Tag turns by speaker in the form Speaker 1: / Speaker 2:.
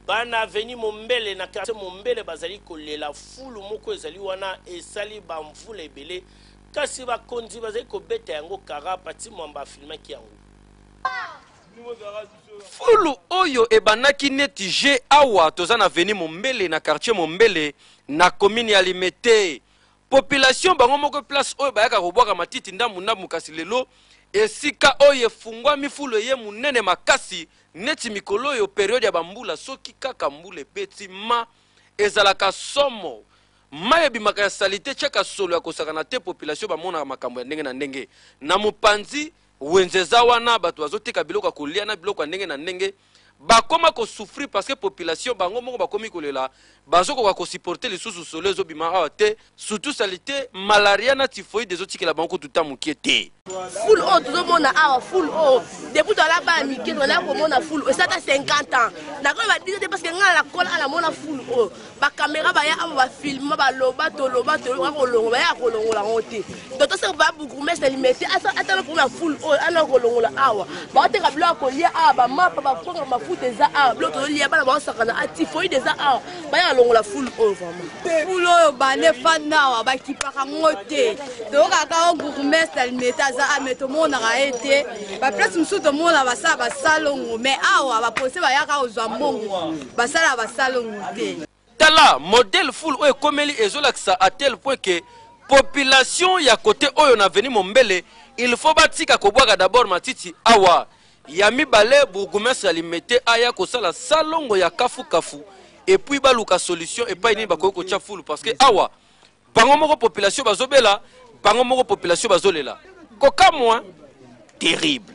Speaker 1: Bana avenue Mombele na quartier Mombele bazali kolela fulu moko ezali wana esali ba mvula ebele kasi bakonzi bazali kobeta yango kara. Pathy Mwamba afilmaki yango.
Speaker 2: Fulu oyo ebandaki neti jeux awa toza na avenue Mombele na quartier Mombele na commune ya Limete. Population bango moko place oyo bayaka kobwaka matiti ndambu ndambu kasi lelo esika oyo efungwami fulu eye munene makasi Neti mikolo oyo periode ya ba mbula soki kaka mbula ebeti ma ezalaka somo mayi ebimaka ya salite tiaka solo ya kosakana te population bamonaka makambo ya ndenge na ndenge na mopanzi wenze eza wana bato bazoteka biloko ya kolia na biloko ya ndenge na ndenge bakoma ko souffrir parce que population bango moko bakomi kolela Bazo koka ko supporter lisusu solo ezo bima awa te surtout salite malaria na typhoïde ezo tikela bango kutu ta mukie te. Foule oyo tozo
Speaker 3: mona awa foule oyo depuis to ala ba mike to ala ko mona foule oyo sata 50 ans na ko ba dire parce que ngala la kola ala mona foule oyo ba camera ba ya awa ba filma ba loba to loba to loba ko longo ba ya ko longo la ngote Toto saka ba bourgmestre limete atala kuna full oyo ana kolongola awa baoteka bilo ya kolia awa bamapa bakonga mafuta eza awa bilo tozolia bana baosakana atifoide eza awa baya alongola full oyo vraiment full oyo bane
Speaker 4: fanda awa bakipaka ngo te toyokaka o bourgmestre limete aza a me tomonaka ye te baplace mosusu tomona basala basalongo me awa bapose bayaka kozwa mbongo basala basalongo te Tala modèle
Speaker 2: foule oyo ekomeli ezolakisa à tel point que population ya cote oyo na avenue Mombele il faut batika kobwaka d'abord matiti awa ya mibale bourgoumestre ya limete aya kosala salongo ya kafu kafu et puis baluka solution epai nini bakoki kotya foule parce que awa bango moko population bazobela bango moko population bazolela kokamwa terrible